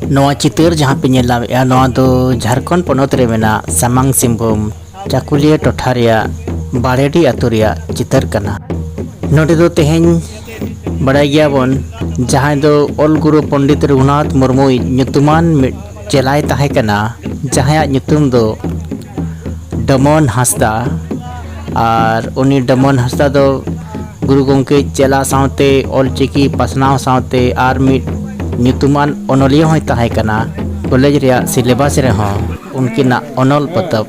ᱱᱚᱣᱟ ᱪᱤᱛᱟᱹᱨ ᱡᱟᱦᱟᱸ ᱯᱮ ᱧᱮᱞ ᱧᱟᱢᱮᱫᱼᱟ ᱱᱚᱣᱟ ᱫᱚ ᱡᱷᱟᱲᱠᱷᱚᱸᱰ ᱯᱚᱱᱚᱛ ᱨᱮ ᱢᱮᱱᱟᱜ ᱥᱟᱢᱟᱝ ᱥᱤᱝᱵᱷᱩᱢ ᱪᱟᱠᱩᱞᱤᱭᱟᱹ ᱴᱚᱴᱷᱟ ᱨᱮᱭᱟᱜ ᱵᱟᱲᱮᱰᱤ ᱟᱛᱳ ᱨᱮᱭᱟᱜ ᱪᱤᱛᱟᱹᱨ ᱠᱟᱱᱟ ᱱᱚᱰᱮ ᱫᱚ ᱛᱮᱦᱮᱧ ᱵᱟᱲᱟᱭ ᱜᱮᱭᱟᱵᱚᱱ ᱡᱟᱦᱟᱸᱭ ᱫᱚ ᱚᱞ ᱜᱩᱨᱩ ᱯᱚᱱᱰᱤᱛ ᱨᱚᱜᱷᱩᱱᱟᱛᱷ ᱢᱩᱨᱢᱩᱭᱤᱡ ᱧᱩᱛᱩᱢᱟᱱ ᱢᱤᱫ ᱪᱮᱞᱟᱭ ᱛᱟᱦᱮᱸ ᱠᱟᱱᱟ ᱡᱟᱦᱟᱸᱭᱟᱜ ᱧᱩᱛᱩᱢ ᱫᱚ ᱰᱚᱢᱚᱱ ᱦᱟᱸᱥᱫᱟ ᱟᱨ ᱩᱱᱤ ᱰᱚᱢᱚᱱ ᱦᱟᱸᱥᱫᱟ ᱫᱚ ᱜᱩᱨᱩ ᱜᱚᱢᱠᱮ ᱪᱮᱞᱟ ᱥᱟᱶᱛᱮ ᱚᱞᱪᱤᱠᱤ ᱯᱟᱥᱱᱟᱣ ᱥᱟᱶᱛᱮ ᱟᱨ ᱢᱤᱫ ᱧᱩᱛᱩᱢᱟᱱ ᱚᱱᱚᱞᱤᱭᱟᱹ ᱦᱚᱸᱭ ᱛᱟᱦᱮᱸ ᱠᱟᱱᱟ ᱠᱚᱞᱮᱡᱽ ᱨᱮᱭᱟᱜ ᱥᱤᱞᱮᱵᱟᱥ ᱨᱮᱦᱚᱸ ᱩᱱᱠᱤᱱᱟᱜ ᱚᱱᱚᱞ ᱯᱚᱛᱚᱵ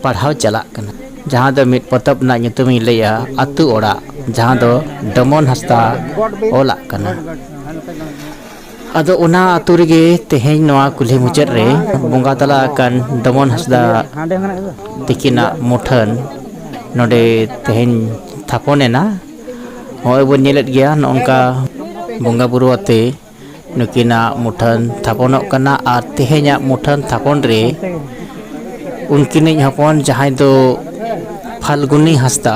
ᱯᱟᱲᱦᱟᱣ ᱪᱟᱞᱟᱜ ᱠᱟᱱᱟ ᱡᱟᱦᱟᱸ ᱫᱚ ᱢᱤᱫ ᱯᱚᱛᱚᱵ ᱨᱮᱱᱟᱜ ᱧᱩᱛᱩᱢ ᱤᱧ ᱞᱟᱹᱭᱟ ᱟᱹᱛᱩ ᱚᱲᱟᱜ ᱡᱟᱦᱟᱸ ᱫᱚ ᱰᱚᱢᱚᱱ ᱦᱟᱸᱥᱫᱟ ᱚᱞᱟᱜ ᱠᱟᱱᱟ ᱟᱫᱚ ᱚᱱᱟ ᱟᱛᱳ ᱨᱮᱜᱮ ᱛᱮᱦᱮᱧ ᱱᱚᱣᱟ ᱠᱩᱞᱦᱤ ᱢᱩᱪᱟᱹᱫ ᱨᱮ ᱵᱚᱸᱜᱟ ᱛᱟᱞᱟ ᱟᱠᱟᱱ ᱰᱚᱢᱚᱱ ᱦᱟᱸᱥᱫᱟ ᱛᱤᱠᱤᱱᱟᱜ ᱢᱩᱴᱷᱟᱹᱱ ᱱᱚᱰᱮ ᱛᱮᱦᱮᱧ ᱛᱷᱟᱯᱚᱱ ᱮᱱᱟ ᱱᱚᱜᱼᱚᱭ ᱵᱚᱱ ᱧᱮᱞᱮᱫ ᱜᱮᱭᱟ ᱱᱚᱝᱠᱟ ᱵᱚᱸᱜᱟ ᱵᱩᱨᱩ ᱟᱛᱮ ᱱᱩᱠᱤᱱᱟᱜ ᱢᱩᱴᱷᱟᱹᱱ ᱛᱷᱟᱯᱚᱱᱚᱜ ᱠᱟᱱᱟ ᱟᱨ ᱛᱮᱦᱮᱧᱟᱜ ᱢᱩᱴᱷᱟᱹᱱ ᱛᱷᱟᱯᱚᱱ ᱨᱮ ᱩᱱᱠᱤᱱᱤᱡ ᱦᱚᱯᱚᱱ ᱡᱟᱦᱟᱸᱭ ᱫᱚ ᱯᱷᱟᱞᱜᱩᱱᱤ ᱦᱟᱸᱥᱫᱟ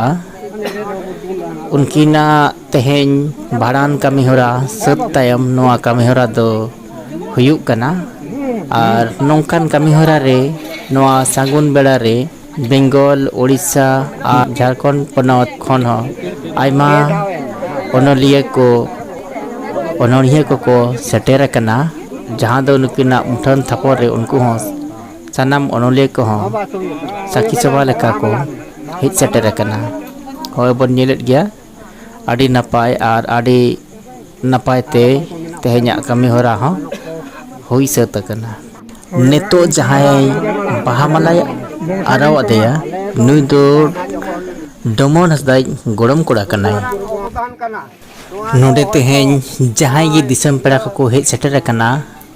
ᱩᱱᱠᱤᱱᱟᱜ ᱛᱮᱦᱮᱧ ᱵᱷᱟᱸᱰᱟᱱ ᱠᱟᱹᱢᱤ ᱦᱚᱨᱟ ᱥᱟᱹᱛ ᱛᱟᱭᱚᱢ ᱱᱚᱣᱟ ᱠᱟᱹᱢᱤ ᱦᱚᱨᱟ ᱫᱚ ᱦᱩᱭᱩᱜ ᱠᱟᱱᱟ ᱟᱨ ᱱᱚᱝᱠᱟᱱ ᱠᱟᱹᱢᱤ ᱦᱚᱨᱟ ᱨᱮ ᱱᱚᱣᱟ ᱥᱟᱹᱜᱩᱱ ᱵᱮᱲᱟ ᱨᱮ ᱵᱮᱝᱜᱚᱞ ᱳᱰᱤᱥᱟ ᱟᱨ ᱡᱷᱟᱲᱠᱷᱚᱸᱰ ᱯᱚᱱᱚᱛ ᱠᱷᱚᱱ ᱦᱚᱸ ᱟᱭᱢᱟ ᱚᱱᱚᱞᱤᱭᱟᱹ ᱠᱚ ᱚᱱᱚᱬᱦᱤᱭᱟᱹ ᱠᱚᱠᱚ ᱥᱮᱴᱮᱨ ᱟᱠᱟᱱᱟ ᱡᱟᱦᱟᱸ ᱫᱚ ᱱᱩᱠᱤᱱᱟᱜ ᱢᱩᱴᱷᱟᱹᱱ ᱛᱷᱟᱯᱚᱱ ᱨᱮ ᱩᱱᱠᱩ ᱦᱚᱸ ᱥᱟᱱᱟᱢ ᱚᱱᱚᱞᱤᱭᱟᱹ ᱠᱚᱦᱚᱸ ᱥᱟᱹᱠᱷᱤ ᱥᱚᱵᱷᱟ ᱞᱮᱠᱟ ᱠᱚ ᱦᱮᱡ ᱥᱮᱴᱮᱨ ᱟᱠᱟᱱᱟ ᱦᱚᱸᱜᱼᱚᱭ ᱵᱚᱱ ᱧᱮᱞᱮᱫ ᱜᱮᱭᱟ ᱟᱹᱰᱤ ᱱᱟᱯᱟᱭ ᱟᱨ ᱟᱹᱰᱤ ᱱᱟᱯᱟᱭ ᱛᱮ ᱛᱮᱦᱮᱧᱟᱜ ᱠᱟᱹᱢᱤ ᱦᱚᱨᱟ ᱦᱚᱸ ᱦᱩᱭ ᱥᱟᱹᱛ ᱟᱠᱟᱱᱟ ᱱᱤᱛᱚᱜ ᱡᱟᱦᱟᱸᱭ ᱵᱟᱦᱟ ᱢᱟᱞᱟᱭ ᱟᱨᱟᱣ ᱟᱫᱮᱭᱟ ᱱᱩᱭ ᱫᱚ ᱰᱚᱢᱚᱱ ᱦᱟᱸᱥᱫᱟ ᱤᱡ ᱜᱚᱲᱚᱢ ᱠᱚᱲᱟ ᱠᱟᱱᱟᱭ ᱱᱚᱰᱮ ᱛᱮᱦᱮᱧ ᱡᱟᱦᱟᱸᱭ ᱜᱮ ᱫᱤᱥᱚᱢ ᱯᱮᱲᱟ ᱠᱚᱠᱚ ᱦᱮᱡ ᱥᱮᱴᱮᱨ ᱟᱠᱟᱱᱟ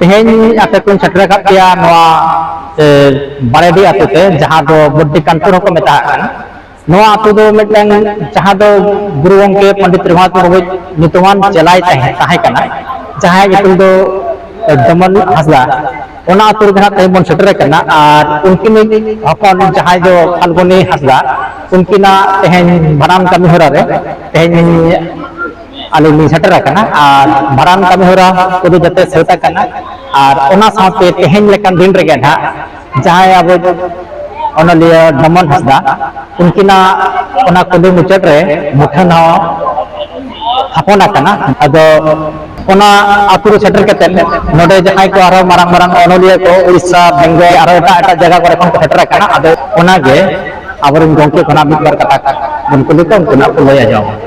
ᱛᱮᱦᱮᱧ ᱟᱯᱮ ᱠᱚᱧ ᱥᱮᱴᱮᱨ ᱟᱠᱟᱫ ᱯᱮᱭᱟ ᱱᱚᱣᱟ ᱵᱟᱲᱮᱰᱤ ᱟᱛᱳ ᱛᱮ ᱡᱟᱦᱟᱸ ᱫᱚ ᱵᱚᱰᱰᱤ ᱠᱟᱱᱯᱩᱨ ᱦᱚᱸᱠᱚ ᱢᱮᱛᱟᱜ ᱠᱟᱱᱟ ᱱᱚᱣᱟ ᱟᱛᱳ ᱫᱚ ᱢᱤᱫᱴᱟᱝ ᱡᱟᱦᱟᱸ ᱫᱚ ᱜᱩᱨᱩ ᱜᱚᱢᱠᱮ ᱯᱚᱱᱰᱤᱛ ᱨᱚᱜᱷᱩᱱᱟᱛᱷ ᱢᱩᱨᱢᱩ ᱧᱩᱛᱩᱢᱟᱱ ᱪᱮᱞᱟᱭ ᱛᱟᱦᱮᱸ ᱛᱟᱦᱮᱸ ᱠᱟᱱᱟ ᱡᱟᱦᱟᱸᱭ ᱧᱩᱛᱩᱢ ᱫᱚ ᱫᱚᱢᱚᱱ ᱦᱟᱸᱥᱫᱟ ᱚᱱᱟ ᱟᱛᱳ ᱨᱮᱜᱮ ᱦᱟᱸᱜ ᱛᱮᱦᱮᱧ ᱵᱚᱱ ᱥᱮᱴᱮᱨ ᱟᱠᱟᱱᱟ ᱟᱨ ᱩᱱᱠᱤᱱᱤᱡ ᱦᱚᱯᱚᱱ ᱡᱟᱦᱟᱸᱭ ᱫᱚ ᱯᱷᱟᱞᱜᱩᱱᱤ ᱦᱟᱸᱥᱫᱟ ᱩᱱᱠᱤᱱᱟᱜ ᱛᱮᱦᱮᱧ ᱵᱷᱟᱸᱰᱟᱱ ᱠᱟᱹᱢᱤ ᱦᱚᱨᱟ ᱨᱮ ᱛᱮᱦᱮᱧ ᱟᱞᱮ ᱞᱤᱧ ᱥᱮᱴᱮᱨ ᱟᱠᱟᱱᱟ ᱟᱨ ᱵᱷᱟᱲᱟᱱ ᱠᱟᱹᱢᱤ ᱦᱚᱨᱟ ᱠᱚᱫᱚ ᱡᱟᱛᱮ ᱥᱟᱹᱛ ᱟᱠᱟᱱᱟ ᱟᱨ ᱚᱱᱟ ᱥᱟᱶᱛᱮ ᱛᱮᱦᱮᱧ ᱞᱮᱠᱟᱱ ᱫᱤᱱ ᱨᱮᱜᱮ ᱱᱟᱦᱟᱜ ᱡᱟᱦᱟᱸᱭ ᱟᱵᱚ ᱚᱱᱚᱞᱤᱭᱟᱹ ᱰᱚᱢᱚᱱ ᱦᱟᱸᱥᱫᱟ ᱩᱱᱠᱤᱱᱟᱜ ᱚᱱᱟ ᱠᱩᱞᱤ ᱢᱩᱪᱟᱹᱫ ᱨᱮ ᱢᱩᱴᱷᱟᱹᱱ ᱦᱚᱸ ᱛᱷᱟᱯᱚᱱ ᱟᱠᱟᱱᱟ ᱟᱫᱚ ᱚᱱᱟ ᱟᱛᱳ ᱨᱮ ᱥᱮᱴᱮᱨ ᱠᱟᱛᱮ ᱱᱚᱰᱮ ᱡᱟᱦᱟᱸᱭ ᱠᱚ ᱟᱨᱦᱚᱸ ᱢᱟᱨᱟᱝ ᱢᱟᱨᱟᱝ ᱚᱱᱚᱞᱤᱭᱟᱹ ᱠᱚ ᱩᱲᱤᱥᱥᱟ ᱵᱮᱝᱜᱚᱞ ᱟᱨᱚ ᱮᱴᱟᱜ ᱮᱴᱟᱜ ᱡᱟᱭᱜᱟ ᱠᱚᱨᱮ ᱠᱷᱚᱱ ᱠᱚ ᱥᱮᱴᱮᱨ ᱟᱠᱟᱱᱟ ᱟᱫᱚ ᱚᱱᱟᱜᱮ ᱟᱵᱚᱨᱮᱱ ᱜᱚᱢᱠᱮ ᱠᱷᱚᱱᱟᱜ ᱢᱤᱫ ᱵᱟᱨ ᱠᱟᱛᱷᱟ ᱵᱚᱱ ᱠᱩᱞᱤ ᱠᱚᱣᱟ ᱩᱱᱠᱩ ᱱᱟᱜ ᱠᱚ ᱞᱟᱹᱭ ᱟᱸᱡᱚᱢᱟ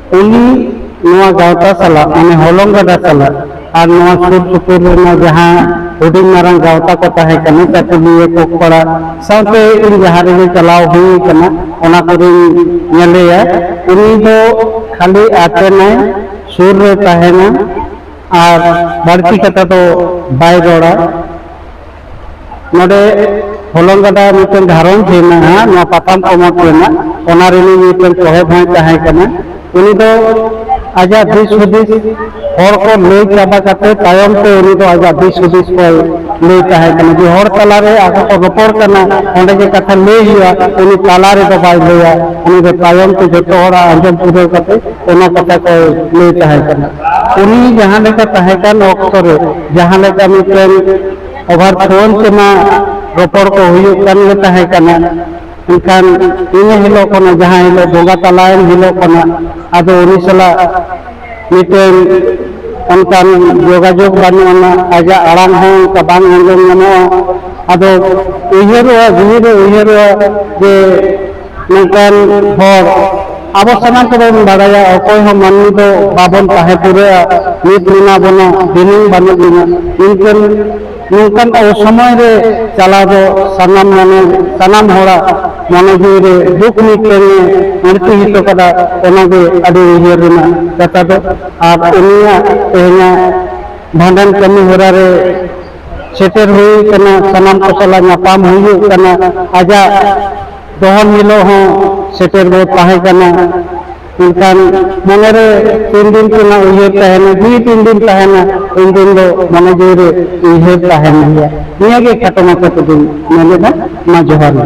ᱩᱱᱤ ᱱᱚᱣᱟ ᱜᱟᱶᱛᱟ ᱥᱟᱞᱟᱜ ᱢᱟᱱᱮ ᱦᱚᱞᱚᱝ ᱜᱟᱰᱟ ᱥᱟᱞᱟᱜ ᱟᱨ ᱱᱚᱣᱟ ᱥᱩᱨ ᱥᱩᱯᱩᱨ ᱨᱮᱱᱟᱜ ᱡᱟᱦᱟᱸ ᱦᱩᱰᱤᱧ ᱢᱟᱨᱟᱝ ᱜᱟᱶᱛᱟ ᱠᱚ ᱛᱟᱦᱮᱸ ᱠᱟᱱᱟ ᱪᱟᱹᱠᱩᱞᱤᱭᱟᱹ ᱠᱚᱠᱯᱟᱲᱟ ᱥᱟᱶᱛᱮ ᱤᱧ ᱡᱟᱦᱟᱸ ᱨᱮᱜᱮ ᱪᱟᱞᱟᱣ ᱦᱩᱭ ᱠᱟᱱᱟ ᱚᱱᱟ ᱠᱚᱨᱮᱧ ᱧᱮᱞᱮᱭᱟ ᱩᱱᱤ ᱫᱚ ᱠᱷᱟᱹᱞᱤ ᱟᱛᱮᱱᱟᱭ ᱥᱩᱨ ᱨᱮ ᱛᱟᱦᱮᱱᱟ ᱟᱨ ᱵᱟᱹᱲᱛᱤ ᱠᱟᱛᱷᱟ ᱫᱚ ᱵᱟᱭ ᱨᱚᱲᱟ ᱱᱚᱰᱮ ᱦᱚᱞᱚᱝ ᱜᱟᱰᱟ ᱢᱤᱫᱴᱮᱱ ᱜᱷᱟᱨᱚᱸᱡᱽ ᱦᱮᱱᱟᱜᱼᱟ ᱱᱚᱣᱟ ᱯᱟᱛᱟᱢ ᱯᱚᱱᱚᱛ ᱨᱮᱱᱟᱜ ᱚᱱᱟ ᱨᱤᱱᱤᱡ ᱢᱤᱫᱴᱮᱱ ᱥᱚᱦᱮᱫ ᱦᱚᱸᱭ ᱛᱟᱦᱮᱸ ᱠᱟᱱᱟ ᱩᱱᱤ ᱫᱚ ᱟᱡᱟᱜ ᱫᱤᱥ ᱦᱩᱫᱤᱥ ᱦᱚᱲ ᱠᱚ ᱞᱟᱹᱭ ᱪᱟᱵᱟ ᱠᱟᱛᱮ ᱛᱟᱭᱚᱢ ᱛᱮ ᱩᱱᱤ ᱫᱚ ᱟᱡᱟᱜ ᱫᱤᱥ ᱦᱩᱫᱤᱥ ᱠᱚᱭ ᱞᱟᱹᱭ ᱛᱟᱦᱮᱸ ᱠᱟᱱᱟ ᱡᱮ ᱦᱚᱲ ᱛᱟᱞᱟᱨᱮ ᱟᱠᱚ ᱠᱚ ᱨᱚᱯᱚᱲ ᱠᱟᱱᱟ ᱚᱸᱰᱮ ᱜᱮ ᱠᱟᱛᱷᱟ ᱞᱟᱹᱭ ᱦᱩᱭᱩᱜᱼᱟ ᱩᱱᱤ ᱛᱟᱞᱟ ᱨᱮᱫᱚ ᱵᱟᱭ ᱞᱟᱹᱭᱟ ᱩᱱᱤ ᱫᱚ ᱛᱟᱭᱚᱢ ᱛᱮ ᱡᱚᱛᱚ ᱦᱚᱲᱟᱜ ᱟᱸᱡᱚᱢ ᱯᱩᱨᱟᱹᱣ ᱠᱟᱛᱮ ᱚᱱᱟ ᱠᱟᱛᱷᱟ ᱠᱚᱭ ᱞᱟᱹᱭ ᱛᱟᱦᱮᱸ ᱠᱟᱱᱟ ᱩᱱᱤ ᱡᱟᱦᱟᱸ ᱞᱮᱠᱟ ᱛᱟᱦᱮᱸ ᱠᱟᱱ ᱚᱠᱛᱚ ᱨᱮ ᱡᱟᱦᱟᱸ ᱞᱮᱠᱟ ᱢᱤᱫᱴᱮᱱ ᱚᱵᱷᱟᱨ ᱯᱷᱳᱱ ᱛᱮᱢᱟ ᱨᱚᱯᱚᱲ ᱠᱚ ᱦᱩᱭᱩᱜ ᱠᱟᱱ ᱜᱮ ᱛᱟᱦᱮᱸ ᱠᱟᱱᱟ ᱮᱱᱠᱷᱟᱱ ᱤᱱᱟᱹ ᱦᱤᱞᱳᱜ ᱠᱷᱚᱱᱟᱜ ᱡᱟᱦᱟᱸ ᱦᱤᱞᱳᱜ ᱵᱚᱸᱜᱟ ᱛᱟᱞᱟᱭᱮᱱ ᱦᱤᱞᱳᱜ ᱠᱷᱚᱱᱟᱜ ᱟᱫᱚ ᱩᱱᱤ ᱥᱟᱞᱟᱜ ᱢᱤᱫᱴᱮᱱ ᱚᱱᱠᱟᱱ ᱡᱳᱜᱟᱡᱳᱜᱽ ᱵᱟᱹᱱᱩᱜ ᱟᱱᱟ ᱟᱡᱟᱜ ᱟᱲᱟᱝ ᱦᱚᱸ ᱚᱱᱠᱟ ᱵᱟᱝ ᱟᱸᱡᱚᱢ ᱧᱟᱢᱚᱜᱼᱟ ᱟᱫᱚ ᱩᱭᱦᱟᱹᱨᱚᱜᱼᱟ ᱡᱤᱣᱤᱨᱮ ᱩᱭᱦᱟᱹᱨᱚᱜᱼᱟ ᱡᱮ ᱢᱤᱫᱴᱟᱱ ᱦᱚᱲ ᱟᱵᱚ ᱥᱟᱱᱟᱢ ᱠᱚᱵᱚᱱ ᱵᱟᱲᱟᱭᱟ ᱚᱠᱚᱭ ᱦᱚᱸ ᱢᱟᱹᱱᱢᱤ ᱫᱚ ᱵᱟᱵᱚᱱ ᱛᱟᱦᱮᱸ ᱯᱩᱨᱟᱹᱜᱼᱟ ᱱᱤᱛ ᱢᱮᱱᱟᱜ ᱵᱚᱱᱟ ᱫᱤᱱᱟᱹᱢ ᱵᱟᱹᱱᱩᱜ ᱵᱚᱱᱟ ᱢᱮᱱᱠᱷᱟᱱ ᱱᱚᱝᱠᱟᱱ ᱟᱵᱚ ᱥᱚᱢᱚᱭ ᱨᱮ ᱪᱟᱞᱟᱣ ᱫᱚ ᱥᱟᱱᱟᱢ ᱢᱚᱱᱮ ᱥᱟᱱᱟᱢ ᱦᱚᱲᱟᱜ ᱢᱚᱱᱮ ᱡᱤᱣᱤ ᱨᱮ ᱫᱩᱠ ᱢᱤᱫᱴᱟᱝ ᱢᱩᱨᱛᱤ ᱦᱚᱴᱚ ᱠᱟᱫᱟ ᱚᱱᱟᱜᱮ ᱟᱹᱰᱤ ᱩᱭᱦᱟᱹᱨ ᱨᱮᱱᱟᱜ ᱠᱟᱛᱷᱟ ᱫᱚ ᱟᱨ ᱩᱱᱤᱭᱟᱜ ᱛᱮᱦᱮᱧᱟᱜ ᱵᱷᱟᱸᱰᱟᱱ ᱠᱟᱹᱢᱤ ᱦᱚᱨᱟ ᱨᱮ ᱥᱮᱴᱮᱨ ᱦᱩᱭ ᱟᱠᱟᱱᱟ ᱥᱟᱱᱟᱢ ᱠᱚ ᱥᱟᱞᱟᱜ ᱧᱟᱯᱟᱢ ᱦᱩᱭᱩᱜ ᱠᱟᱱᱟ ᱟᱡᱟᱜ ᱫᱚᱦᱚᱱ ᱦᱤᱞᱳᱜ ᱦᱚᱸ ᱥᱮᱴᱮᱨ ᱵᱚ ᱛᱟᱦᱮᱸ ᱠᱟᱱᱟ ᱢᱮᱱᱠᱷᱟᱱ ᱢᱚᱱᱮ ᱨᱮ ᱛᱤᱱ ᱫᱤᱱ ᱨᱮᱱᱟᱜ ᱩᱭᱦᱟᱹᱨ ᱛᱟᱦᱮᱱᱟ ᱡᱤᱣᱤ ᱛᱤᱱ ᱫᱤᱱ ᱛᱟᱦᱮᱱᱟ ᱩᱱ ᱫᱤᱱ ᱫᱚ ᱢᱚᱱᱮ ᱡᱤᱣᱤ ᱨᱮ ᱩᱭᱦᱟᱹᱨ ᱛᱟᱦᱮᱱ ᱜᱮᱭᱟ ᱱᱤᱭᱟᱹ ᱜᱮ ᱠᱷᱟᱴᱚ ᱢᱟᱪᱷᱟ ᱛᱮᱫᱚᱧ ᱢᱮᱱᱮᱫᱟ ᱢᱟ ᱡᱚᱦᱟᱨ ᱜᱮ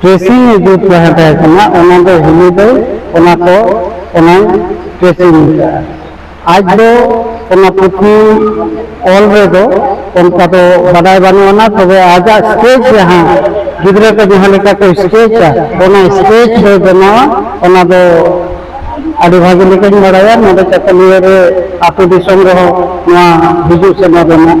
ᱴᱨᱮᱥᱤᱝ ᱤᱫᱤ ᱛᱟᱦᱮᱸ ᱛᱟᱦᱮᱸ ᱠᱟᱱᱟ ᱚᱱᱟ ᱫᱚ ᱦᱤᱞᱤ ᱫᱚᱭ ᱚᱱᱟ ᱠᱚ ᱚᱱᱟᱭ ᱴᱨᱮᱥᱤᱝ ᱠᱟᱜᱼᱟ ᱟᱡ ᱫᱚ ᱚᱱᱟ ᱯᱩᱛᱷᱤ ᱚᱞ ᱨᱮᱫᱚ ᱚᱱᱠᱟ ᱫᱚ ᱵᱟᱰᱟᱭ ᱵᱟᱹᱱᱩᱜ ᱟᱱᱟ ᱛᱚᱵᱮ ᱟᱡᱟᱜ ᱥᱴᱮᱡᱽ ᱡᱟᱦᱟᱸ ᱜᱤᱫᱽᱨᱟᱹ ᱠᱚ ᱡᱟᱦᱟᱸ ᱞᱮᱠᱟ ᱠᱚ ᱥᱴᱮᱡᱟ ᱚᱱᱟ ᱥᱴᱮᱡᱽ ᱫᱚ ᱵᱮᱱᱟᱣᱟ ᱚᱱᱟ ᱫᱚ ᱟᱹᱰᱤ ᱵᱷᱟᱹᱜᱤ ᱞᱮᱠᱟᱧ ᱵᱟᱲᱟᱭᱟ ᱱᱚᱰᱮ ᱪᱟᱹᱠᱩᱞᱤᱭᱟᱹ ᱨᱮ ᱟᱹᱛᱩ ᱫᱤᱥᱚᱢ ᱨᱮᱦᱚᱸ ᱱᱚᱣᱟ ᱦᱤᱡᱩᱜ ᱥᱮᱱᱚᱜ ᱨᱮᱱᱟᱜ